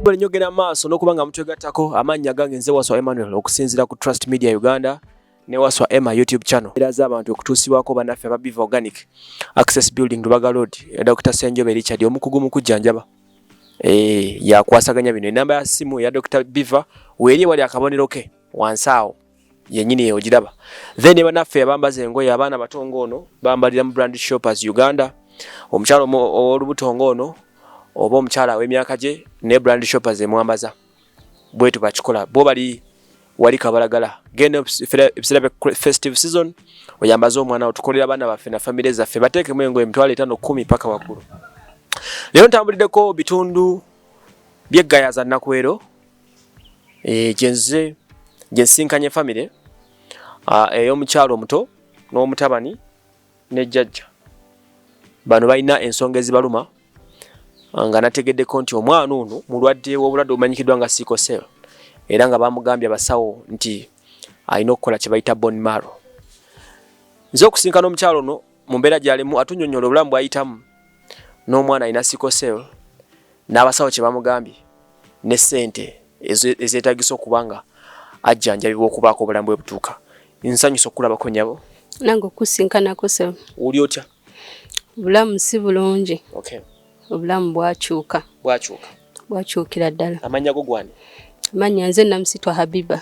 Bwere nyogera maaso n'okuba nga mutwegattako amannya gange nze Waswa Emmanuel okusinziira ku Trust Media Uganda ne Waswa Emma YouTube channel. Era za abantu okutuusibwako banaffe aba Biva Organic Access Building Lubaga Road ya Dr. Senjobe Richard omukugu mu kujjanjaba. Eh, yakwasaganya bino. Enamba ya simu ya Dr. Biva weeri wali akabonero ke wansi awo. yenyini eyo ogiraba then ne banaffe abambaza engoye abaana bato ng'ono bambalira mu brand shoppers uganda omukyala ow'olubuto ng'ono oba omukyala aw'emyaka gye ne brand shoppers emwambaza bwetu bakikola bo bali wali kabalagala genda ebiseera festive season oyambaze omwana otukolera abaana baffe na famire zaffe bateekemu engoye emitwalo etaano kumi paka waggulu leero ntambuliddeko bitundu byeggayaza nakwero eh, gyenzize gyensisinkanye famire ah, ey'omukyalo omuto n'omutabani ne jjajja bano balina ensonga ezibaluma ah, nga nategeddeko nti omwana ono mulwadde w'obulwadde obumanyikiddwa nga sikosel era nga bamugambye abasawo nti alina okukola kye bayita bonmaro nze okusinkana omukyalo ono mu mbeera gyalimu atunyonyola obulamu bwayitamu n'omwana alina sickle cell n'abasawo kye bamugambye ne sente ezeetagisa okuba nga ajjanjabibwa okubaako obulamu bwe butuuka nsanyusa okulabako nyabo nange okusinkanako se oli otya obulamu si bulungi okay. obulamu bwakyuka bwakyuka bwakyukira ddala amannya go gwani amannya nze namusitwa habiba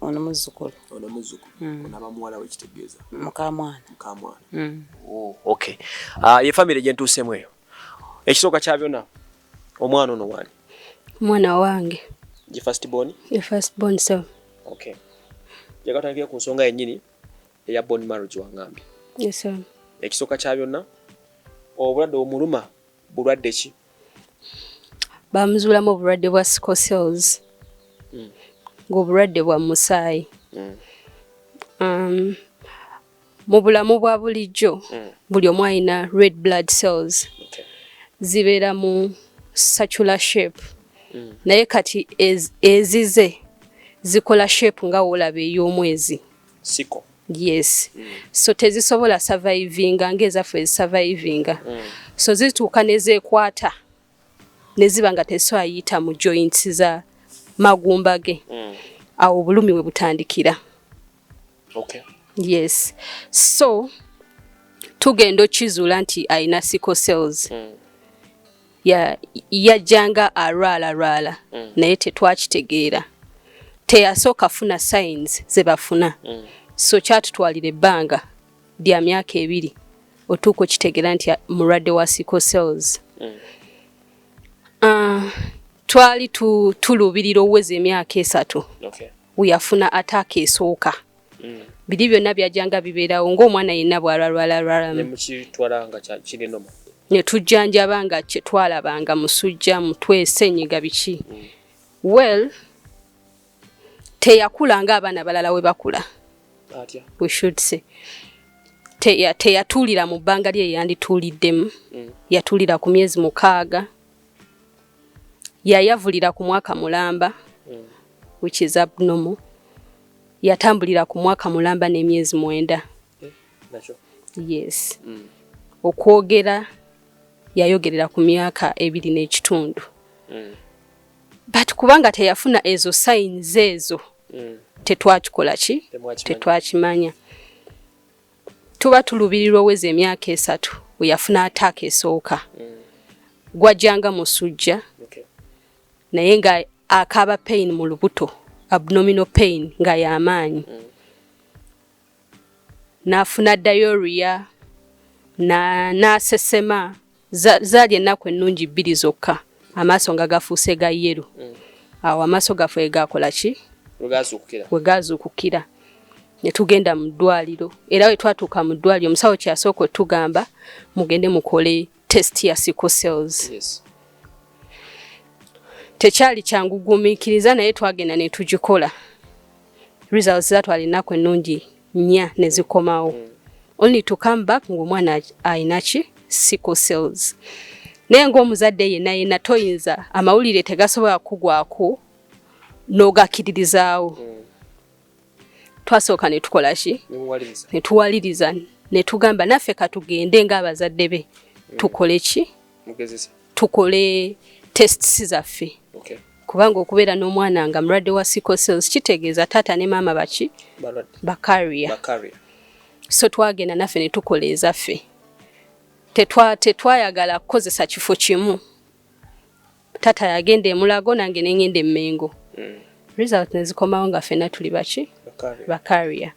ono muzzukulu ono muzzukulu mm. onaba muwala we kitegeeza mukamwana mukamwana mm. oh, okay uh, ye famire gye ntuusemu eyo ekisooka kya byonna omwana ono waani omwana wange ye first born ye first born so okay jagatandikira ku nsonga yennyini eya born marriage wangambye yes sir ekisooka kya byonna obulwadde omuluma bulwadde ki baamuzuulamu obulwadde bwa sicosels hmm. ng'obulwadde bwa musaayi hmm. um, mu bulamu bwa bulijjo hmm. buli omu alina red blood cells zibeera mu sacula shape naye kati ezize zikola shape nga woolaba ey'omwezi siko yes mm. so tezisobola survivinga ng'ezaffe ezisurvivinga mm. so zituuka nezekwata neziba nga tesoayita mu joints za magumba ge mm. awo obulumi we butandikira okay. yes so tugenda okizuula nti alina sickle cells mm. yajjanga alwala lwala mm. naye tetwakitegeera teyasooka funa signs ze bafuna mm. so kyatutwalira ebbanga lya myaka ebiri otuuka okitegeera nti mulwadde wa sickle cells mm. uh, twali tuluubirira oweza emyaka esatu okay. weyafuna ataaka esooka mm. biri byonna byajjanga bibeerawo ng'omwana yenna bwalwalwalalwalamukiritwalangakirinomu ne tujjanjaba nga kyetwalabanga musujja mutwe senyiga biki mm. well teyakula nga abaana balala we bakula we should say teyatuulira mu bbanga lye yeyandituuliddemu mm. yatuulira ku myezi mukaaga yayavulira ku mwaka mulamba mm. which is abnormal yatambulira ku mwaka mulamba n'emyezi mwenda eh, yes mm. okwogera yayogerera ku myaka ebiri n'ekitundu mm. but kubanga teyafuna ezo sayinizi ezo mm. tetwakikola ki tetwakimanya tuba tulubirirwa oweza emyaka esatu weyafuna ataaka esooka mm. gwajjanga musujja naye nga akaaba pain mu lubuto abnominal pain nga yamaanyi mm. nafuna diarrhea na nasesema Zali ennaku ennungi bbiri zokka amaaso nga gafuuse ga yeru mm. awo amaaso gaffe wegakola ki wegazuukukira netugenda mu ddwaliro era we twatuuka mu ddwaliro omusawo kyasooka otugamba mugende mukole test ya sickle cells yes. tekyali kyangu gumiikiriza naye twagenda netugikola results zatwala ennaku ennungi nnya ne zikomawo mm. only to come back ng'omwana alina ki sickle cells naye ng'omuzadde yenna yenna toyinza amawulire tegasobola kugwako n'ogakiririzaawo mm. twasooka ne tukola ki ne tuwaliriza ne tugamba naffe katugende ng'abazadde be mm. tukole ki tukole tests zaffe okay. kubanga okubeera n'omwana nga mulwadde wa sickle cells kitegeeza taata ne maama baki bakaria so twagenda naffe ne tukola ezaffe tetwayagala kukozesa kifo kimu taata yagenda emulago nange nengenda emmengo mm. result nezikomawo nga fena tuli baki bakaria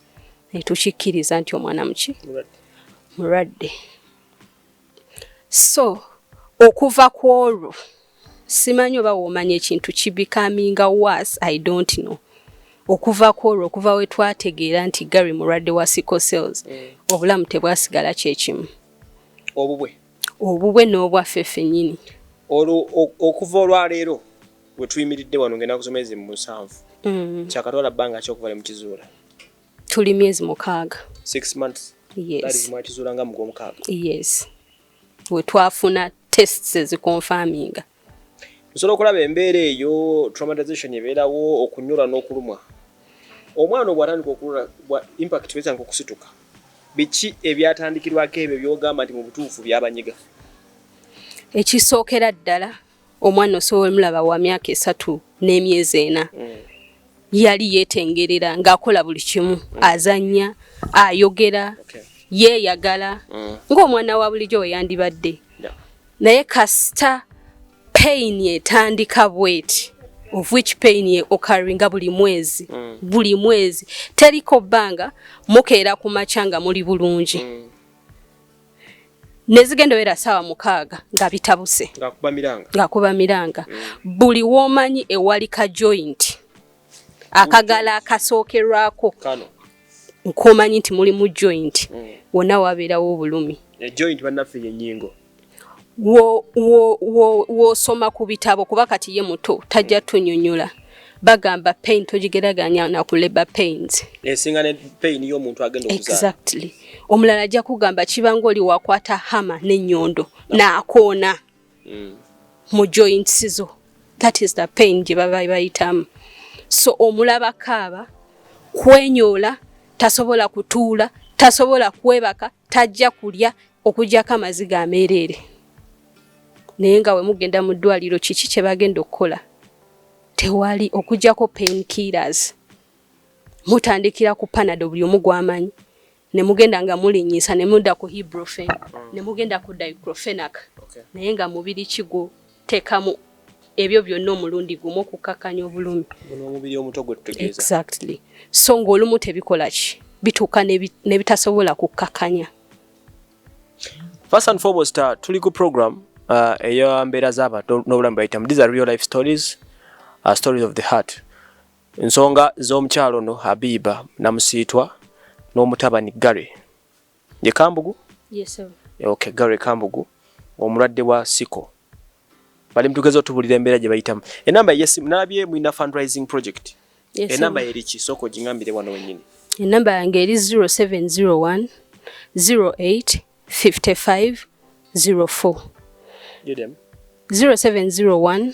netukikkiriza nti omwana muki mulwadde so okuva ku olwo simanyi oba womanya ekintu kibikaminga was i don't know okuva ku olwo okuva we twategeera nti gary mulwadde wa sickle cells mm. obulamu tebwasigala kyekimu obubwe obubwe n'obwaffe fenyini olwo okuva olwaleero wetuyimiridde wano ngenda kusoma ezi mu musanvu mm. kyakatwala bbanga kyokuva ne mukizuula tuli myezi mukaaga six months yes mwakizuula nga mugwomukaaga yes we twafuna tests ezikonfaminga nsobola okulaba embeera eyo traumatization ebeerawo okunyura n'okulumwa omwana obwatandika okulula bwa impact wezanga okusituka biki ebyatandikirwako ebyo byogamba nti mu butuufu byabanyiga ekisookera ddala omwana osobola mulaba wa myaka esatu n'emyezi ena mm. yali yetengerera ng'akola buli kimu mm. azanya ayogera yeeyagala mm. ng'omwana wa bulijjo we yandibadde naye kasita payini etandika bweti of which pain ye okaringa buli mwezi mm. buli mwezi teriko bbanga mukeera ku makya nga muli bulungi mm. nezigenda owera saawa mukaaga nga bitabuse ngakuba miranga mm. buli womanyi ewali ka joint akagala akasookerwako nkomanyi nti mulimu joint mm. wonna wabeerawo obulumi e wosoma wo, wo, wo ku bitabo kuba kati ye muto tajja tunyonyola bagamba pain togigeraganya na ku labor pains esinga ne pain yo muntu agenda okuzaa exactly omulala ajja kugamba kibanga oli wakwata hama ne nyondo no. na akona mm. mu joints zo that is the pain gye baba bayitamu so omulaba kaaba kwenyola tasobola kutuula tasobola kwebaka tajja kulya okujjako amaziga ameereere naye nga we mugenda mu ddwaliro kiki kye bagenda okukola tewali okujjako pain killers mutandikira ku panado buli omu gwamanyi ne mugenda nga mulinyisa ne mudda ku hibrofen ne mugenda ku dicrofenac naye nga mubiri kigwo tekamu ebyo byonna omulundi gumu okukkakkanya obulumi omubiri omuto gwe tutegeeza exactly so ng'olumu tebikola ki bituuka ne bitasobola kukkakkanya first and foremost uh, tuli ku program uh, eya mbeera z'abantu n'obulamu bayitamu these are real life stories uh, stories of the heart ensonga z'omukyalo no habiba namusiitwa n'omutabani gary Ye Kambugu? Yes sir. Okay, Gary Kambugu omulwadde wa siko bali mtugeza otubulira embeera gye bayitamu. Enamba ye simu nalabye mulina fundraising project. Yes, enamba eri ki soko gingambire wano wenyini. Enamba yange eri 0701 08 55 04. Give them. 0701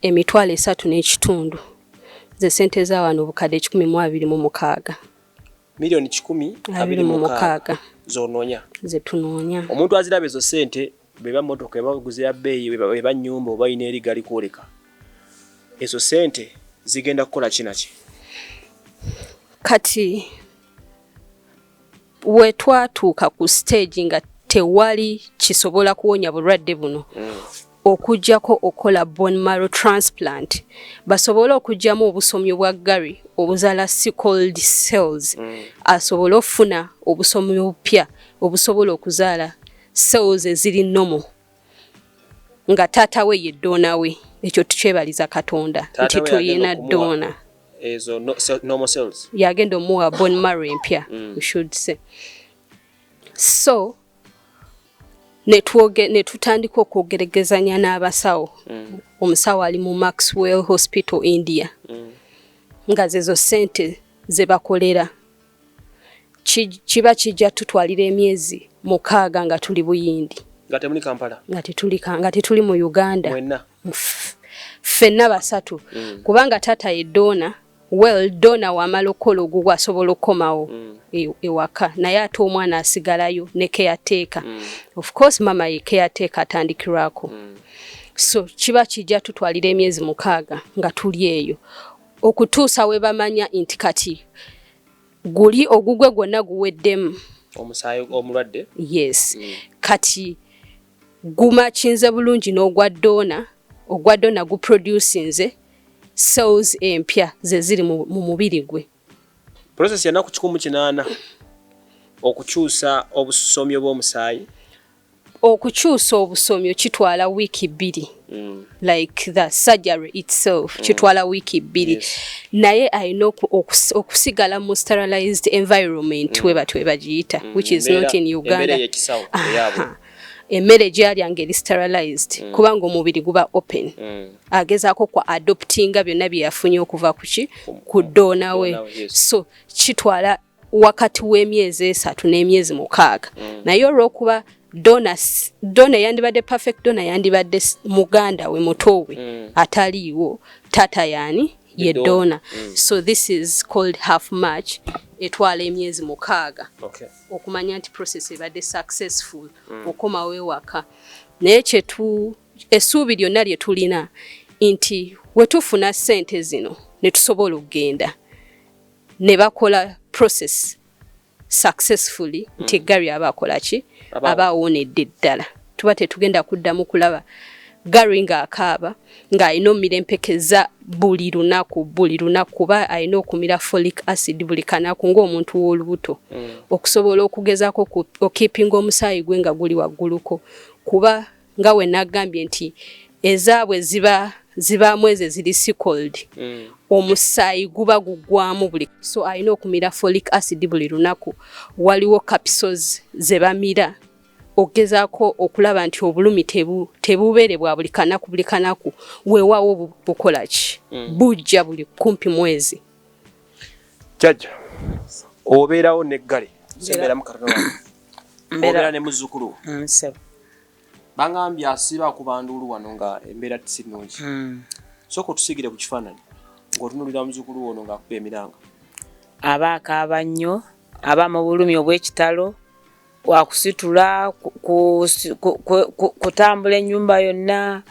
emitwalo esatu n'ekitundu ze sente za wano obukadde ekikumi mu abiri mu mukaaga miliyoni kikumi abiri mu mukaaga zononya zetunonya omuntu aziraba ezo sente beba motoka ebaguze ya beeyi eba nyumba oba ina eri gali kwoleka ezo sente zigenda kukola kinaki kati we twatuuka ku stage nga tewali kisobola kuwonya bulwadde buno mm. okujjako okukola bone marrow transplant basobole okujjamu obusomyo bwa gary obuzala sicold cells mm. asobole okufuna obusomyo obupya obusobola okuzaala cells eziri nomo nga taata we ye ddoona we ekyo tukyebaliza katonda nti tuyina ddoona yagenda omuwa bon maro empya mm. se so netutandika okwogeregezanya n'abasawo mm. omusawo ali mu maxwell hospital india mm. nga zezo sente zebakolera kiba kijja tutwalira emyezi mukaaga nga tuli buyindi nga temuli kampala nga tetuli nga tetuli mu uganda mwenna ffenna basatu mm. kubanga taata ye dona well dona wamala okukola ogugwo asobola okukomawo mm. E, ewaka naye ate omwana asigalayo ne keyateeka mm. of course mama ye keyateeka atandikirwako mm. so kiba kijja tutwalira emyezi mukaaga nga tuli eyo okutuusa we bamanya nti kati guli ogugwe gwonna guweddemu omusaayi omulwadde yes mm. kati gumakinze bulungi n'ogwa doona ogwa doona guproducinze cells empya ze ziri mu mubiri gwe process yanaku kikumu kinaana okukyusa obusomyo bw'omusaayi okukyusa obusomyo kitwala wiiki bbiri mm. like the surgery itself mm. kitwala wiiki bbiri yes. naye alina okusigala mu sterilized environment mm. webatyo webagiyita mm. which is Mbera, not in uganda emmere gyalya ngaeri sterilized mm. kubanga omubiri guba open mm. agezaako kwa adoptinga byonna byeyafunye okuva kuki ku doonawe yes. so kitwala wakati w'emyezi esatu n'emyezi mukaaga mm. naye olw'okuba dona dona yandibadde perfect dona yandibadde muganda we muto we mm. ataliiwo tata yani ye dona mm. so this is called half march etwala emyezi mukaaga okay. okumanya nti process ebadde successful mm. okomawo ewaka naye kyetu essuubi lyonna lye tulina nti wetufuna ssente zino ne tusobola okugenda ne bakola process successfully hmm. nti Gary aba akola ki aba awonedde ddala tuba tetugenda kuddamu kulaba Gary ng'akaaba ng'alina omira empeke za buli lunaku buli lunaku kuba alina okumira folic acid buli kanaku ng'omuntu w'olubuto hmm. okusobola okugezaako okipinga omusaayi gwe nga guli wagguluko kuba nga we nagambye nti ezaabwe ziba zibaamu ezo eziri sicold mm. omusaayi guba gugwamu buli so alina okumira folic acid buli lunaku waliwo capisos ze bamira okugezaako okulaba nti obulumi tebubeere bwa buli kanaku buli kanaku weewaawo bukola ki mm. bujja buli kumpi mwezi jajja obeerawo neggale sembeeramu katonaa mbeera ne muzzukulu wo mm, ssebo bangambye asiba akuba nduulu wano nga embeera si nnungi mm. sooka otusigire ku kifaananyi ng'otunulira muzzukulu wono ng'akuba emiranga aba akaaba nnyo aba mu bulumi obw'ekitalo wakusitula kutambula ennyumba yonna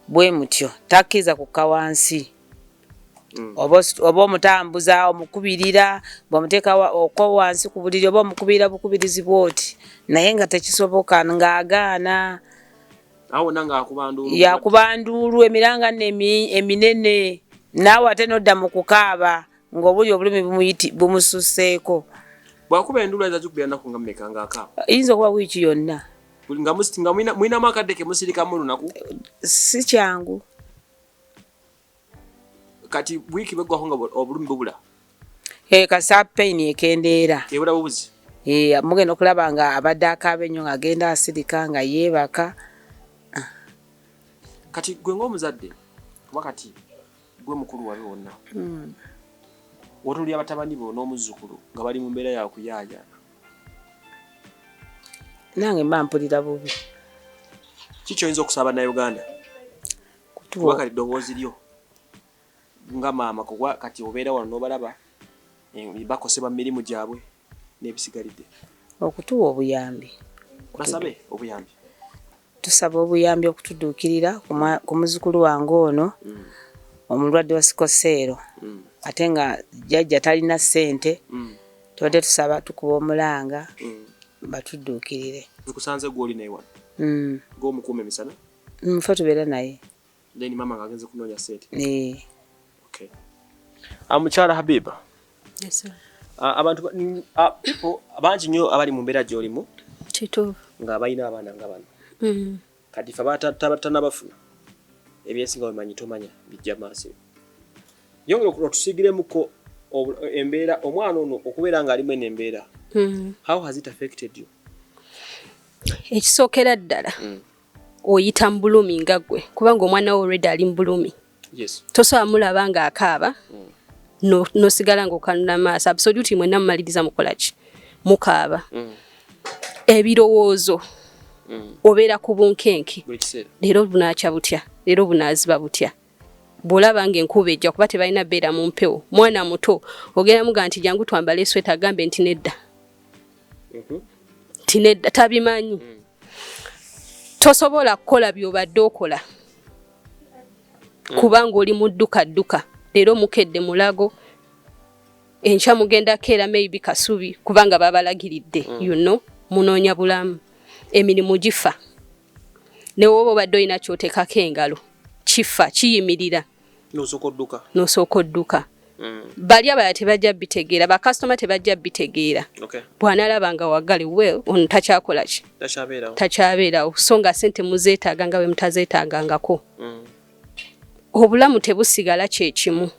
bwe mutyo takkiriza kukka wansi Mm. oba omutambuza omukubirira bwemuteeka okwo wansi ku buliri oba omukubirira bukubirizi bwoti naye nga tekisoboka ng'agaana yakuba nduulu emiranga nno eminene naawe ate nodda mu kukaaba ng'obuli obulumi bumususeeko yinza okuba wiiki yonna nga mulinamu akadde kemusirikamu olunaku si kyangu kati wiiki bweggwako nga obulumi bubula eh, kasa pain ekendeera ebula bubuzi eh, mugenda okulaba nga abadde akaaba ennyo ngaagenda asirika nga yeebaka kati gwe ngaomuzadde kuba kati Gwe mukulu wabe wonna. Mm. Wotulya batabani bo n'omuzzukulu nga bali mu mbeera ya kuyaayaana. Nange mba mpulira bubi. Ki kyoyinza okusaba Bannayuganda? Kuba kati ddoboozi lyo nga maama kuba kati obeera wano n'obalaba eh, bakosebwa mu mirimu gyabwe. n'ebisigalidde okutuwa obuyambi basabe obuyambi tusaba obuyambi okutuduukirira ku muzukulu wange ono mm. omulwadde wa sikoseero mm. ate nga jajja talina ssente mm. tubadde tusaba tukuba omulanga batuduukirire nkusanze gwoli naye wano gomukuuma emisana nfe tubeera naye Then mama nga agenze kunonya sente. Eh. Okay. Amukyala ah, Habiba. Yes sir. Ah, abantu ah, people abangi nyo abali mu mbeera gyolimu. Kituufu. Nga abalina abaana nga bano. Mm. Kati fa batatana bafuna. Ebyesinga bimanyi tomanya bijja maaso. Yongera okutusigiremuko embeera omwana ono okubeera ng'alimu eno embeera hmm. how has it affected you ekisookera ddala hmm. oyita mu bulumi nga gwe kubanga omwana wo already ali mu bulumi yes. tosobola mulaba nga akaaba mm. nosigala no ngaokanula amaaso absoluti mwena mumaliriza mukolaki mukaaba mm. ebirowoozo mm. obeera ku bunkenke leero bunakya butya leero bunaziba butya bwolaba nga enkuba ejja kuba tebalina beera mu mpewo mwana muto ogenda muga nti jangu twambale esweta agambe nti nedda mhm. nti nedda tabimanyi mm. tosobola kukola byobadde okola mm. kubanga oli mudduka dduka leero mukedde mulago enkya mugenda keera maybe kasubi kubanga babalagiridde mm. you know munoonya bulamu emirimu gifa ne woba obadde olina kyotekako engalo kifa kiyimirira nosooka odduka nosooka odduka mm. bali abala tebajja bitegeera bakasitoma tebajja bitegeera okay. bwanalaba nga wagali well ono takyakola ki takyabeerawo so nga sente muzeetaaga nga bwe mutazeetaagangako mm. obulamu tebusigala kyekimu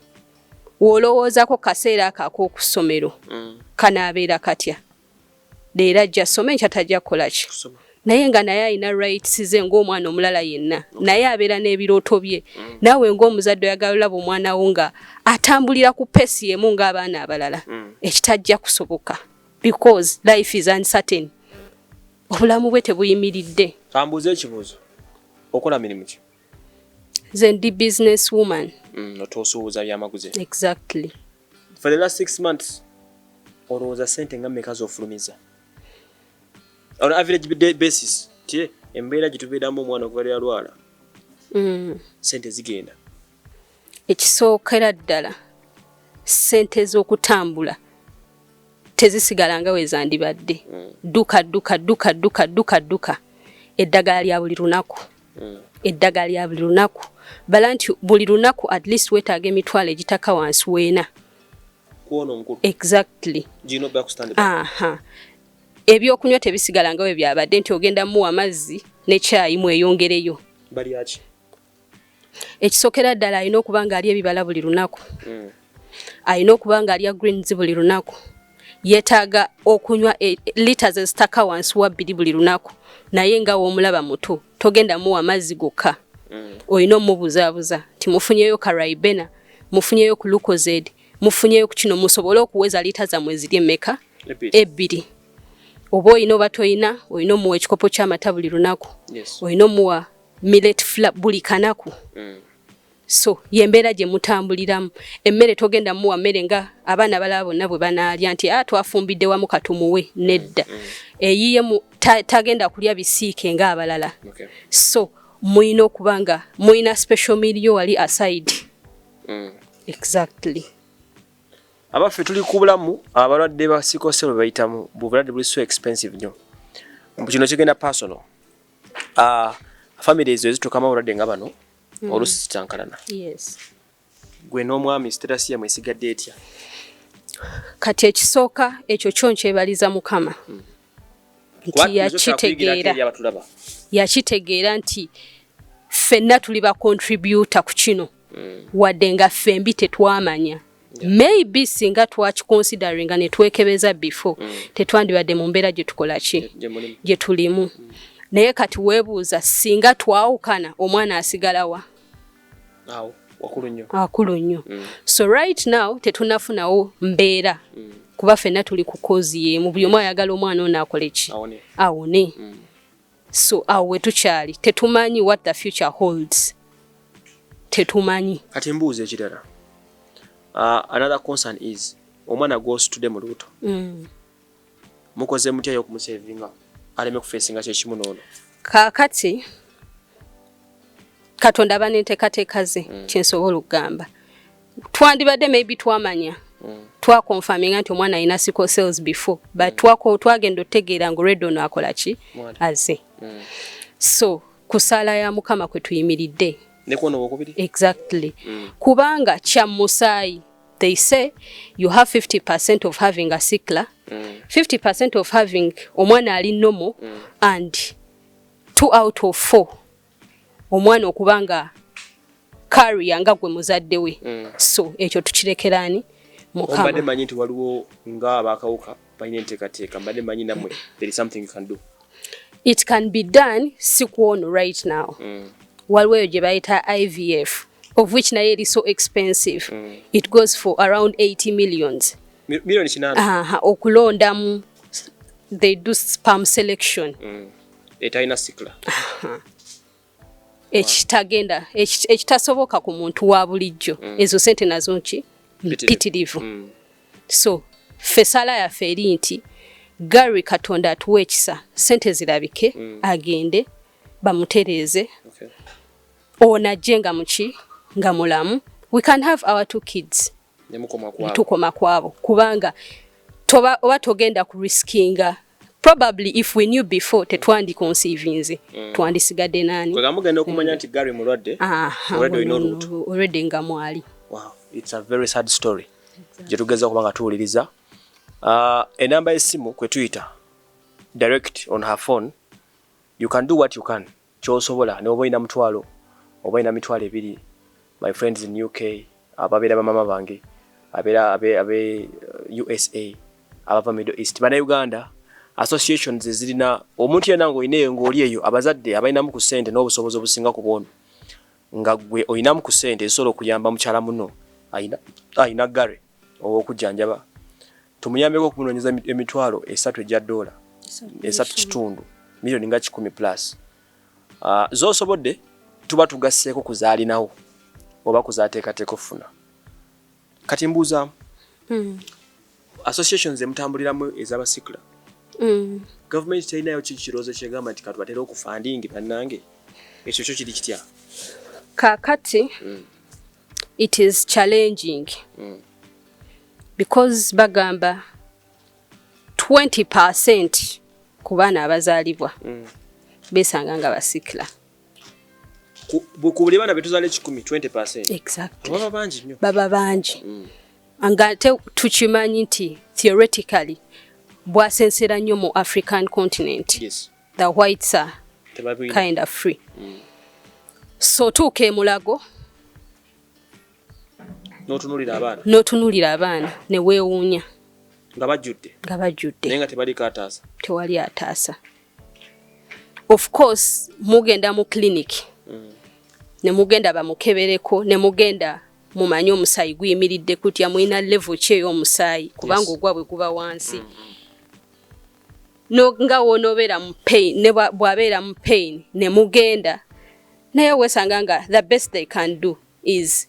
wolowoozako kaseera ako akokusomero mm. kanaabeera katya leero ajja asome nkya tajja kukola ki naye nga naye alina rights ze ng'omwana omulala yenna naye abeera n'ebirooto bye mm. naawe ng'omuzadde oyagala olaba omwana wo nga atambulira ku pesi emu ng'abaana abalala mm. ekitajja kusoboka because life is uncertain obulamu bwe tebuyimiridde ambuuza ekibuuzo okola mirimu ki nze ndi business woman mm, otuusuubuza byamaguzi exactly for the last six months olowooza sente nga meka zofulumiza on average basis ti embeera gyetubeeramu omwana okuva lyalwala mm. sente zigenda ekisookera ddala sente ez'okutambula tezisigala nga wezandibadde mm. duka duka duka duka duka duka eddagala lya buli lunaku mm. eddagala lya buli lunaku bala nti buli lunaku at least wetaaga emitwalo egitaka wansi weena exactly aha ebyokunywa tebisigala nga we byabadde nti ogenda muwa amazzi nekyayi mweyongereyo ekisookera ddala alina okuba nga ali ebibala buli lunaku mm. alina okuba nga alya greens buli lunaku yetaaga okunywa e, litres ezitaka wansi wa bbiri buli lunaku naye nga womulaba muto togenda muwa mazzi gokka mm. olina omubuzaabuza nti mufunyeyo karaibena mufunyeyo ku lukozed mufunyeyo ku kino musobole okuweza liita zammwe ziri emeka ebbiri oba olina oba tolina olina omuwa ekikopo kyamata buli lunaku olina omuwa millet fla buli kanaku mm. so yembeera gye mutambuliramu emmere togenda muwa mmere nga abaana balaba bonna bwe banaalya nti a ah, twafumbidde wamu katumuwe nedda mm. eyiye tagenda kulya bisiike nga abalala so muyina okuba nga muyina special milio wali aside mm. exactly abaffe tuli ku bulamu abalwadde ba sikoselo bayitamu bubulwadde buli so expensive nyo kino kigenda personal uh, ah, family ezo ezitukamu abalwadde nga bano mm. olusi zitankalana yes. gwe n'omwami sitasi yamwe esigadde etya kati ekisooka ekyo kyo nkyebaliza mukama mm. nti yakitegeera yakitegeera nti ffenna tuli bakontributa ku kino mm. wadde nga ffembi tetwamanya maybe singa twakikonsideringa netwekebeza before mm. tetwandibadde mu mbeera gye tukola ki gye tulimu mm. naye kati weebuuza singa twawukana omwana asigalawa akulu nnyo mm. so right now tetunafunawo mbeera mm. kuba fenna tuli ku kozi yemu buli omu ayagala omwana ono akole ki awone mm. so awo wetukyali tetumanyi what the future holds tetumanyi kati mbuuza ekirala uh, another concern is omwana gwositude mu luuto mm. mukoze mutya yo okumusevinga aleme kufesinga kyekimu noono kakati katonda aba nenteekateeka ze mm. kyensobola okugamba twandibadde maybe twamanya mm. twakonfaminga nti omwana alina sickle cells before but mm. twako twagenda otegeera nga olwedde ono akola ki aze mm. so kusaala ya mukama kwe tuyimiridde exactly mm. kubanga kya musaayi they say you have 50 percent of having a sickler mm. 50 percent of having omwana ali nomo mm. and two out of four omwana okuba nga kariya nga gwe muzadde we mm. so ekyo tukirekeraani mukambadde manyi nti waliwo nga abakawuka balina enteekateeka mbadde manyi namwe there is something you can do it can be done si kwono right now mm. waliwo eyo gye bayita ivf of which naye eri so expensive mm. it goes for around 80 millions million kinana uh -huh. okulondamu they do sperm selection mm. etalina sikla ekitagenda ekitasoboka ku muntu wa bulijjo mm. ezo sente nazo nki mpitirivu mm. so ffe sala yaffe eri nti gary katonda atuwa ekisa sente zirabike mm. agende bamutereeze okay. onajje nga muki nga mulamu we can have our two kids netukoma kwabo kubanga toba oba togenda ku riskinga probably if we knew before tetwandi conceivinze mm. twandisigadde nani mugenda okumanya nti gary mulwadde ah, already nga mwali wow, it's a very sad story gyetugeza okuba nga tuwuliriza uh, enamba y'essimu kwe tuyita direct on her phone you can do what you can kyosobola noba olina mutwalo oba olina mitwalo ebiri my friends in uk ababera bamama bange abera abe abe usa abava middle east bana uganda associations ezirina omuntu yena nga olina eyo nga oli eyo abazadde abalinamu ku sente n'obusobozi obusinga ku bwono nga gwe olinamu ku sente ezisobola okuyamba mukyala muno alina gare owokujjanjaba Tumuyambeko okunoonyeza emitwalo esatu egya doola esatu kitundu miliyoni nga kikumi plus ah, z'osobodde tuba tugasseeko ku zaalinawo oba ku zaateekateeka okufuna kati mbuuzaamu hmm. associations emutambuliramu ez'abasikula hmm. gavumenti terinayo ki kirowoozo kyegamba nti katubatera okufandingi bannange ekyo kyo kiri kitya kakati hmm. it is challenging mm. because bagamba 20 percent ku baana abazaalibwa mm. besanga nga basikla buli baana betuzala ekikumi 20 percent exactly. baba bangi nyo baba bangi mm. nga te tukimanyi nti theoretically bwasensera nnyo mu african continent yes. the whites are kind of free mm. so tuuka emulago notunulira abaana notunulira abaana newewuunya nga bajjudde nga bajjudde naye nga tebaliko ataasa tewali ataasa of course mugenda mu clinic mm. ne mugenda bamukebereko ne mugenda mumanye omusaayi guyimiridde kutya mulina levo ki ey'omusaayi kubanga yes. ogwabwe guba wansi mm -hmm. no nga wonobera mu pain ne bwabera mu pain ne mugenda naye wesanga nga the best they can do is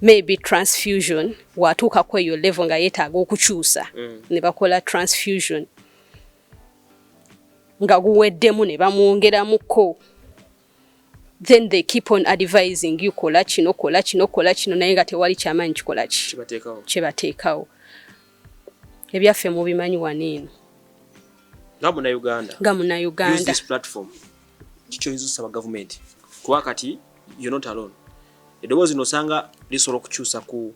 maybe transfusion watuuka ku eyo level nga yetaaga okukyusa mm. ne bakola transfusion nga guweddemu ne bamwongeramuko then they keep on advising you kola kino kola kino kola kino naye nga tewali kyamanyi kikola ki kyebateekawo ebyaffe mubimanyi wano eno nga munauganda nga munauganda kikyoyinza osaba gavumenti kuba kati you're not alone eddoboozi nosanga lisobola okukyusa ku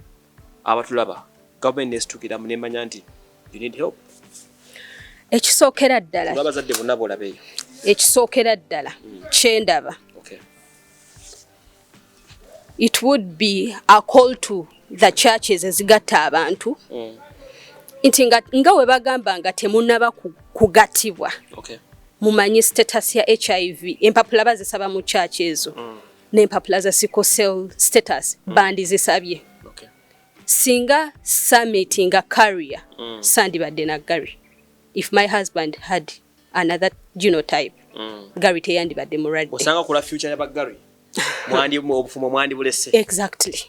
abatulaba government nestukilamu nemanya nti you need help ekisookera ddala abazadde bonna bolabeyo ekisookera ddala mm. kyendaba okay. it would be a call to the churches ezigatta abantu mm. nti nga, nga we bagamba nga temunaba kugatibwa okay. mumanyi status ya hiv empapula bazisaba mu church ezo mm. n'empapula za sickle cell status mm. bandizisabye okay. singa summit nga carrier mm. sandibadde na gary if my husband had another genotype mm. gary teyandibadde mulwaddeosanga kula future ya bagary mwandi obufumo mwandi bulese exactly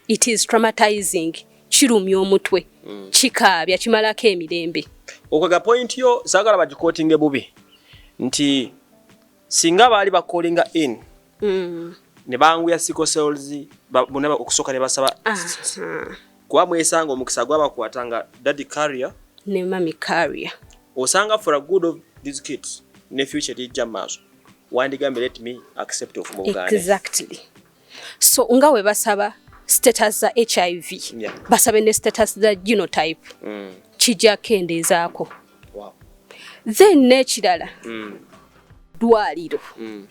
it is traumatizing kirumya omutwe mm. kikaabya kimalako emirembe okwega point yo sagala bagikotinge bubi nti singa baali bakolinga in mm. ne banguya siko cells bonna okusooka ne basaba kuba mwesanga omukisa gwabakwata nga daddy carrier ne mami carrier osanga for a good of these kids ne future lijja maaso wandigambye let me accept of mu buganda exactly so nga we basaba status za hiv yeah. basabe ne status za genotype mm. kijja kendeezaako wow. then n'ekirala mm. ddwaliro mm.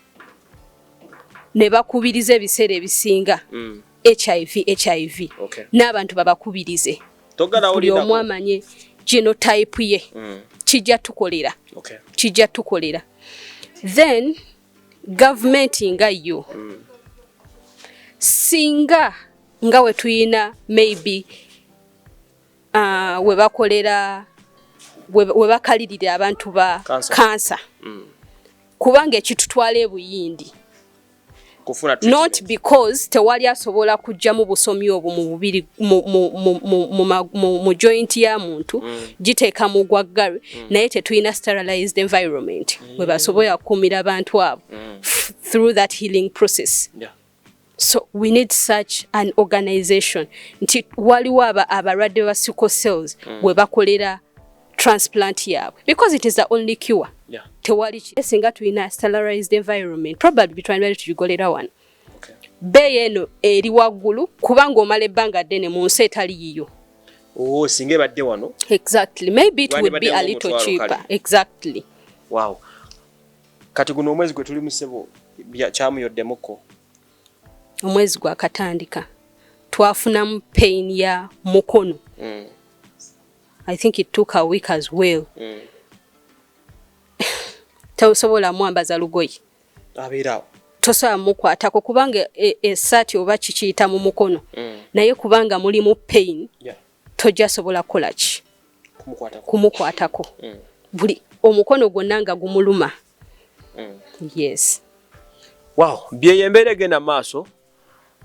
ne bakubiriza ebiseera ebisinga mm. hiv hiv okay. n'abantu babakubirize buli omu amanye genotype ye mm. kijja tukolera okay. kijja tukolera then gavumenti nga yo mm. singa nga we tuyina maybe uh, we bakolera we bakalirira abantu ba kansa mm. kubanga ekitutwala ebuyindi not because tewali asobola kujjamu busomi obwo mu bubiri mu joint ya muntu mm. giteeka mu gwaggare mm. naye tetulina sterilized environment we basobola okukuumira abantu abo mm. through that healing process yeah. so we need such an organization nti waliwo aba abalwadde ba sickle cells mm. we bakolera transplant yaabwe because it is the only cure yeah. tewali singa tulina sterilized environment probably bitwandibali tugigolera wano bbeeyi eno eri waggulu kubanga omala ebbanga ddene mu nsi etali yiyo oh, singa ebadde wano exactly maybe it would be a little cheaper exactly wow kati guno omwezi gwe tuli musebo kyamuyoddemukko omwezi gwakatandika twafunamu pain ya mukono mm. i think it took a week as well mm. tausobola mwambaza lugoye abeerawo tosobola mukwatako kubanga esaati e, e oba kikiyita mu mukono mm. naye kubanga mulimu pain yeah. tojja sobola kukola ki kumukwatako mm. buli omukono gwonna nga gumuluma mm. yes wow byeyo embeera egenda maaso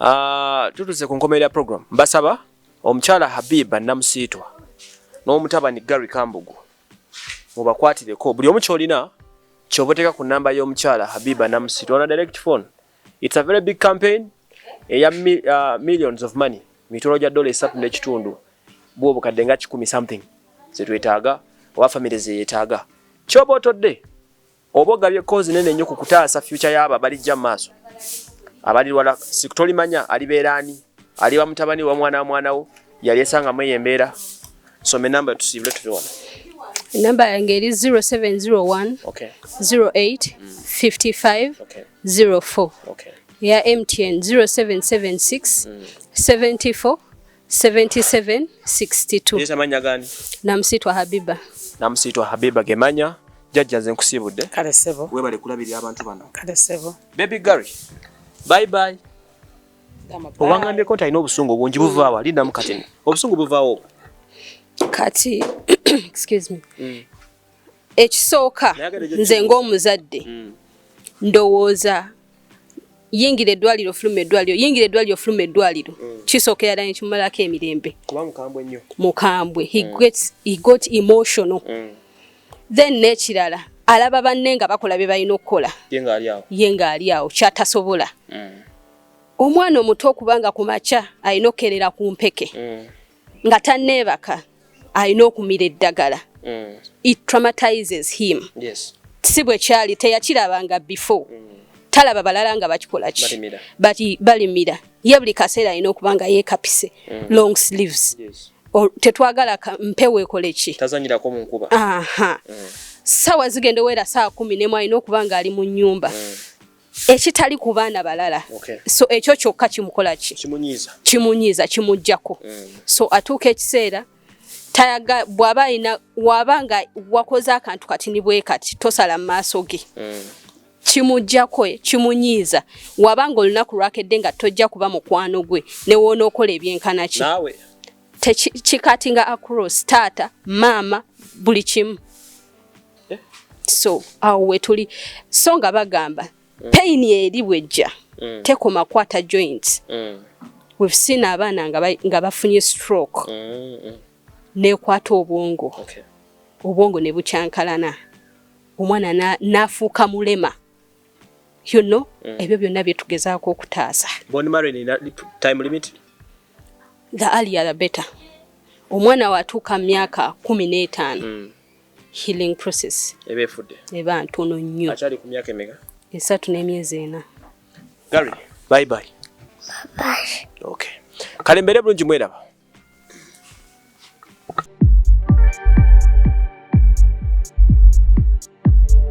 uh, tutuuse ku nkomerera program mbasaba omukyala habiba namusiitwa n'omutabani gary kambugu mubakwatireko buli omu kyolina kyoba oteeka ku namba y'omukyala habiba namusiri ona direct phone its a very big campaign eya uh, millions of money mitolo gya dola esatu n'ekitundu bwa obukadde nga kikumi something zetwetaaga oba famiry zeyetaaga kyoba otodde Oba ogabye kozi nene nnyo ku kutaasa fyuca y'abo abalijja mu maaso abalirwala sikutolimanya alibeera ani aliba mutabani wa mwana wa mwana wo yali esangamu eyo embeera soma enamba tusiibule tuve wano enamba yange eri 0701 08 55 04 eya mtn 0776 74 7762 namusitwa habiba namusitwa habiba gemanya jajja nze nkusiibudde kale sebo webale kulabirira abantu bano kale sebo baby gary bye bye owangambyeko nti alina obusungu obungi buvaawo alindamu katini obusungu buvaawo kati excuse me mm. ekisooka nze ng'omuzadde mm. ndowooza yingira eddwaliro fuluma eddwaliro yingira eddwaliro fuluma eddwaliro mm. kisookera ddala nekimumalako emirembe mukambwe he mm. got emotional mm. then nekirala alaba banne nga bakola bye balina okukola ye ng'ali awo kyatasobola omwana omuto okubanga ku makya alina okukerera ku mpeke nga tanneebaka alina okumira eddagala mm. it traumatizes him yes. si bwe kyali teyakirabanga before mm. talaba balala nga bakikola ki bati balimira ye buli kaseera alina okuba nga yeekapise mm. long sleeves yes. tetwagala mpewo ekole ki tazanyirako mu nkuba mm. sawa zigenda owera saa kumi nemu alina okuba nga ali mu nyumba mm. ekitali ku baana balala okay. so ekyo kyokka kimukola ki kimunyiiza kimujjako mm. so atuuka ekiseera tayaga bw'aba alina waba nga wakoze akantu kati ni bwe kati tosala mu maaso ge mm. kimujjako kimunyiiza waba nga olunaku lwakedde nga tojja kuba mukwano gwe newoonaokola ebyenkanaki tekikatinga across taata maama buli kimu eh? so awo wetuli so nga bagamba mm. pain eri bwejja mm. tekoma kwata joints mm. we've seen abaana nga bafunye stroke mm. mm. nekwata obwongo okay. obwongo ne bukyankalana omwana nafuuka na mulema you know mm. ebyo byonna byetugezaako okutaasa the earlier the better omwana watuuka mu myaka kumi n'etaano mm. healing process eba ntono nnyo esatu n'emyezi ena kale mbeere bulungi mweraba